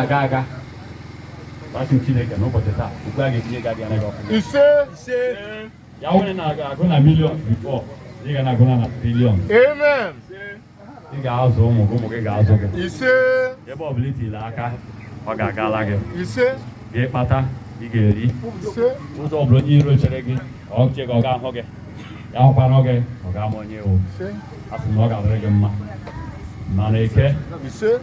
aga aga asị m Chineke n'ụbọchị taa okwu a ga-etinye gị adịghị anaghị ọfụma ise ise ya wụrụ na ị na-agụ na million before ị ga na-agụ na na trillion amen ị ga-azụ ụmụ gị ụmụ gị ga-azụ gị ise ebe ọ bụla i tile aka ọ ga-agala gị ise gị kpata ị ga-eri ise ụzọ ọ bụla onye iro chere gị ọ che gị ọ ga-ahụ gị ya hụkwanụ gị ọ ga-ama onye ị wụ ise asị m na ọ ga-adịrị gị mma ma n'eke ise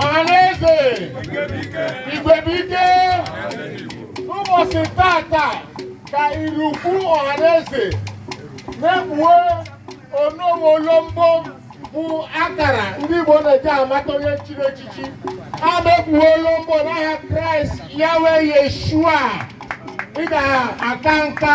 ọhaneze Igwebuike n'ụbọchị tata ka irukwu ọhaneze na-ekpuwe onowu olombo bụ akara ndị Igbo na-eji amata onye chiri echichi ha na-ekpuwe olombo n'aha Kraịst Yahweh Yeshua ị ga-aka nka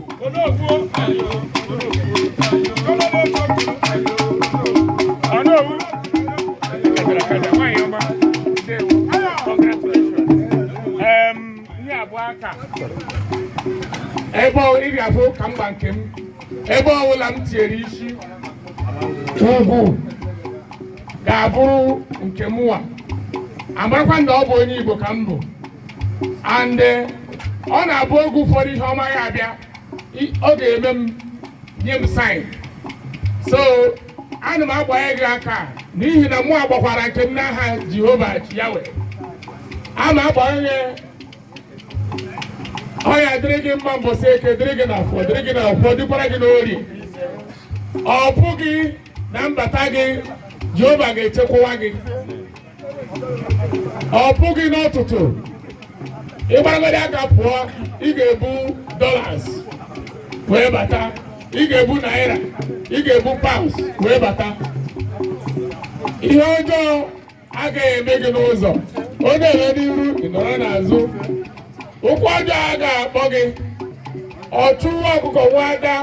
ebe ị ga-afụ ka m gba nke m ebe ọbụla m tinyere isi ugwu ga-abụrụ nke mụwa a marakwa na ọ bụ onye Igbo ka m bụ and eh, ọ na-abụ oge ụfọdụ ihe ọma ya abịa i- ọ ga-eme m nye m sign so ana m agbanye gị aka n'ihi na mụ agbakwara nke m n'aha jehova Yahweh ana m agbanye ọ ya-adịrị gị mma mbọsị eke dịrị gị na afọ dịrị gị na afọ dịkwara gị n'orie ọpụpụ gị na mbata gị jehova ga-echekwawa gị ọpụpụ gị n'ụtụtụ ị gbaragodi aka pụọ ị ga-ebu dollars wee bata ị ga-ebu naira ị ga-ebu pounds wee bata ihe ọjọọ agaghị eme gị n'ụzọ ọ na-eme n'iru ị nọrọ n'azụ ụkwụ ọjọọ a ga-akpọ gị ọchụ nwa ọkụkọ nwe ada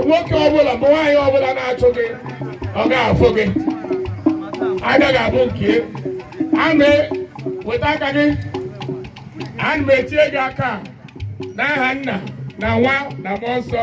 nwoke ọbụla ma nwaanyị ọbụla na-achụ gị ọ ga-afụ gị ada ga-abụ nke ya weta aka gị ana m etinye gị aka n'aha nna na nwa na mmụọ nsọ